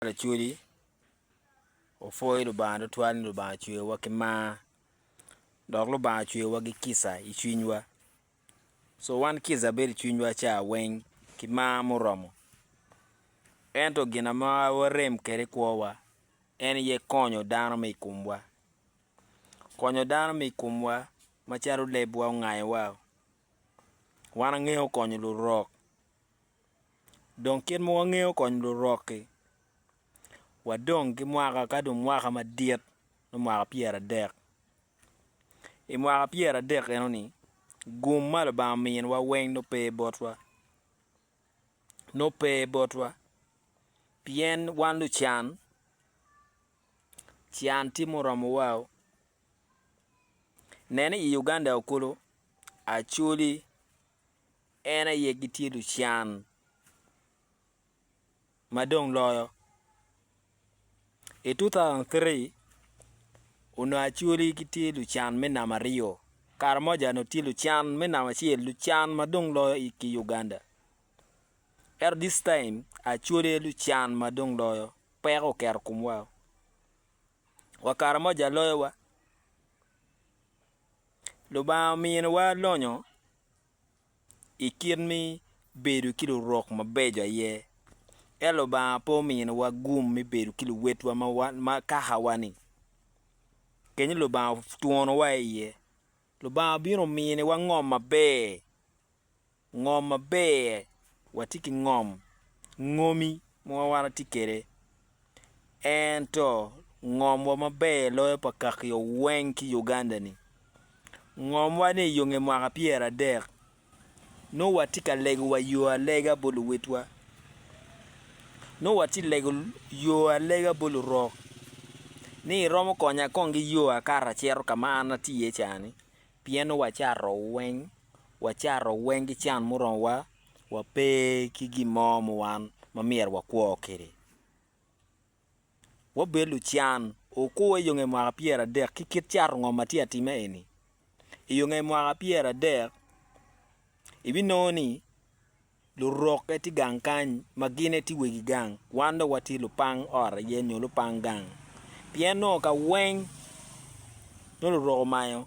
Pat Acholi opwoyo Lubanga tutwal ni Lubanga ocweyowa ki mar dok Lubanga ocweyowa ki kica i cwinywa. Co wan kica bedo i cwinywa ca weng ki mar muromo ento gin ma warem kwede i kwowa en aye konyo dano ma i komwa. Konyo dano ma i komwa macalo lebwa ongayowa, wan wangeyo konyo lurok. Dong kit ma wangeyo kony lurok-ki, wadong ki mwaka ka dong mwaka madit nongo mwaka pyeradek. I mwaka pyeradek eno-ni gum ma Lubanga ominiwa weng nongo pe botwa nongo pe botwa pien wan lucan can tye muromowao. Nen ni i Uganda kulu Acholi En aye gitye lucan ma dong loyo. I 2003, onongo Acholi gitye lucan me namba aryo. Karamoja onongo tye lucan me namba acel, lucan ma dong loyo ki Uganda. Ento this time, Acholi aye lucan ma dong loyo. Peko oketo i komwa. Wa Karamoja loyowa. Lubanga ominiwa lonyo i kit me bedo ki lurok mabeco aye. Ento Lubanga pe ominiwa gum me bedo ki luwotwa ma kakawani. Kit ma Lubanga otwonowa iye, Lubanga obino ominiwa ngom maber. ngom maber watye ki ngom ngomi ma wan watye kwede, ento ngomwa maber loyo pa kakio weng ki Uganda-ni. Ngomwa ni i yonge mwaka pyeradek nongo watye ka lego wa yo alega bot luwotwa, nongo watye ka lego yo alega bot lurok ni iromo konya kong ki yo akato acito ka ma an atye iye cani Pien wacato weng, wacato weng ki can muromowa, wape ki gin mo ma wan ma myero wakwo kwede. Wabed lucan. Wukur i yo nge mwaka pyeradek ki kit cato ngom ma tye atima eni. I yo nge mwaka pyeradek, ibinongo ni Lurokke tye gang kany ma gin aye tye wegi gang, wan dong watye lupang ot aye nyo lupang gang. Pien nongo ka weng nongo lurok omanyo,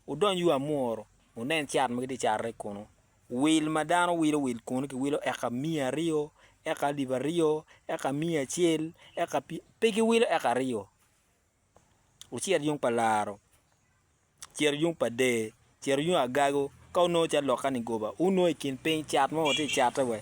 wudony yo amuru, wunen cat ma gitye ka cato kunu. Wil ma dano wilo wil kunu kiwilo eka miya aryo, eka alip aryo, eka miya acel, eka pe giwilo eka aryo. wucit yung pa laro, cito yung pa der, cito yung agago, ka wunongo calo lok kani goba, wunongo i kin piny cat mo wutye cate we,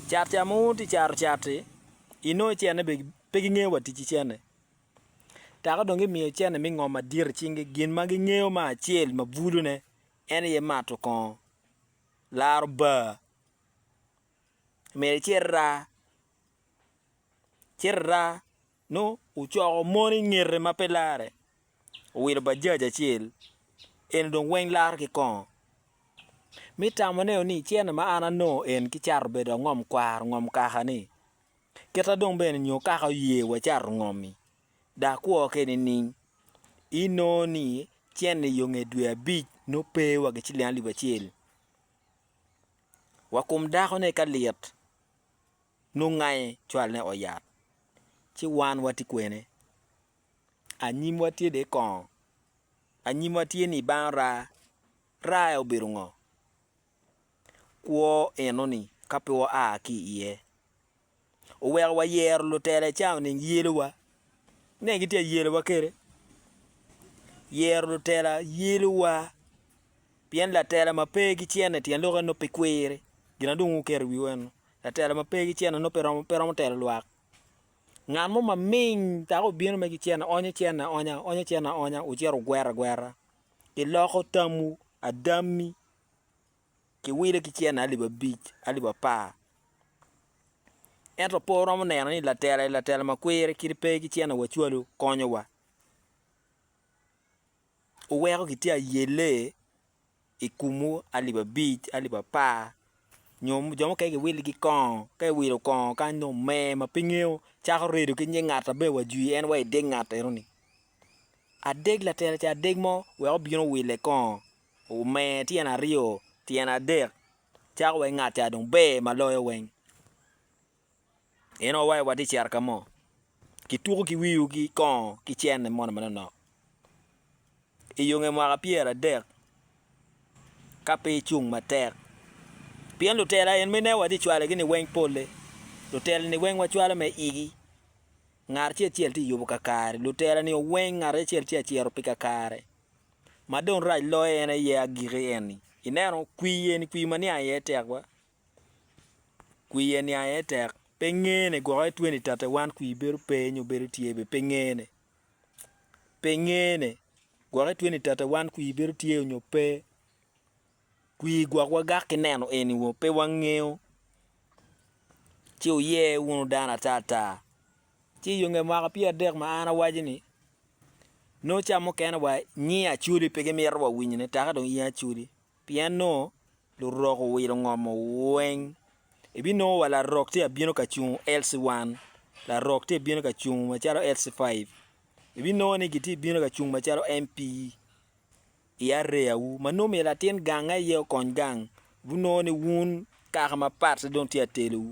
cat ca ma wutye caro cati, inongo icene be pe gingeyo wa tic ki cene, taka dong gimiyo cene me ngo madit i cingi, gin ma gingeyo me acel ma bulu ne en aye mato kongo, laro bar, myero icit raa, cit iraa nongo ocoko mon i ngete ma pe larre, owilo Bajaj acel, eni dong weng laro ki kongo. Mi tamo neo ni cene ma an anongo en ki cato bedo angom kwaro ngom kaka ni, kita dong bene nyo kaka oye wa cato ngomi, da kwo ke nining? I nongo ni cene yo nge dwe abic nongo pe wa ki ciling alip acel. Wa kom dako ne ka lit. Nongo ngaye cwalne oyat, ci wan watye kwene? Anyimwa tye de kongo? Anyimwa tye ni bang raa, raa-e obedo ngo? Kwo enoni ka pe waa ki iye, oweko wayero lutela i cawa nining? Yelowa, ineno gitye ka yelowa kwede. Yero lutela yelowa, pien latela ma pe gicene tyen lok eno pe kwiri, gin na dong wuketo i wiwa eno. Latela ma pe gicena nongo pe romo pe romo telo lwak. Ngat mo ma ming dok obino me gicena onyo cena aonya, onyo cena aonya wucito wugwero agwera. Iloko tamwu, adammi kiwile ki cena alip abic, alip apar. Ento pe wuromo neno ni latela-ni latela ma kwir kit pe gicena wa cwalu konyowa. Wuweko kitye ayelle i kumwu alip abic, alip apar, nyo jo mukene giwiligi kongo, ka iwilo kongo kany dong omer ma pe ingeyo, cako redo ki nying ngat ma bene wa jwi en wa i deg ngat enoni. Adeg latere ca adeg mo wek obin owille kongo, omer tyene aryo, tyene adek, cako wai ngat ca dong ber ma loyo weng. Inongo wa watye cito ka mo, kituko ki wiu ki kongo ki cene mono manonok. I yo nge mwaka pyeradek, ka pe icung matek, pien lutela eni ma ineno watye cwalogi ni weng pole, lutela-ni weng wacwalo me igi. Ngat acel acel tye yubo kakare, lutela-ni weng ngat acel acel tye ka cito pi kakare. Ma dong rac loyo en aye agiki eni, ineno kwii eni kwii ma niang iye tekwa, kwiye niang aye tek pe ngene gwok aye 2031 kwi bedo pe nyo bedo tye bene pe ngene pe ngene gwok aye 2031 kwi bedo tye nyo pe kwi gwok wagak ki neno eni wo pe wangeyo ci wuye wunu dano ata ata ci iyo nge mwaka pyer adek ma an awaco ni nongo ca mukene wa nyi acwodi pe gimito wa winyone taka dong in acwodi Pien nongo lurok owilo ngomo weng. Ibinongo wa larok tye abino ka cungo LC 1, larok tye bino ka cungo macalo LC 5. Ibinongo ni gitye bino ka cungo macalo MP i area wu. Ma nongo myero latin gang aye okony gang, ibinongo ni wun kaka mapat dong tye atelo wu.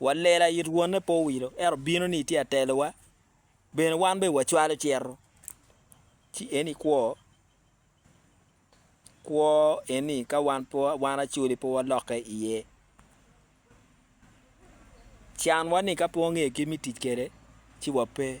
wa lela it wonne pe owilo ento bino ni tye atelowa bene wan bene wa cwalo cito ci eni kwo kwo eni ka wan pe wan acoli pe wa lokke iye can wa ni ka pe wangeyo kit me tic kwede ci wa pe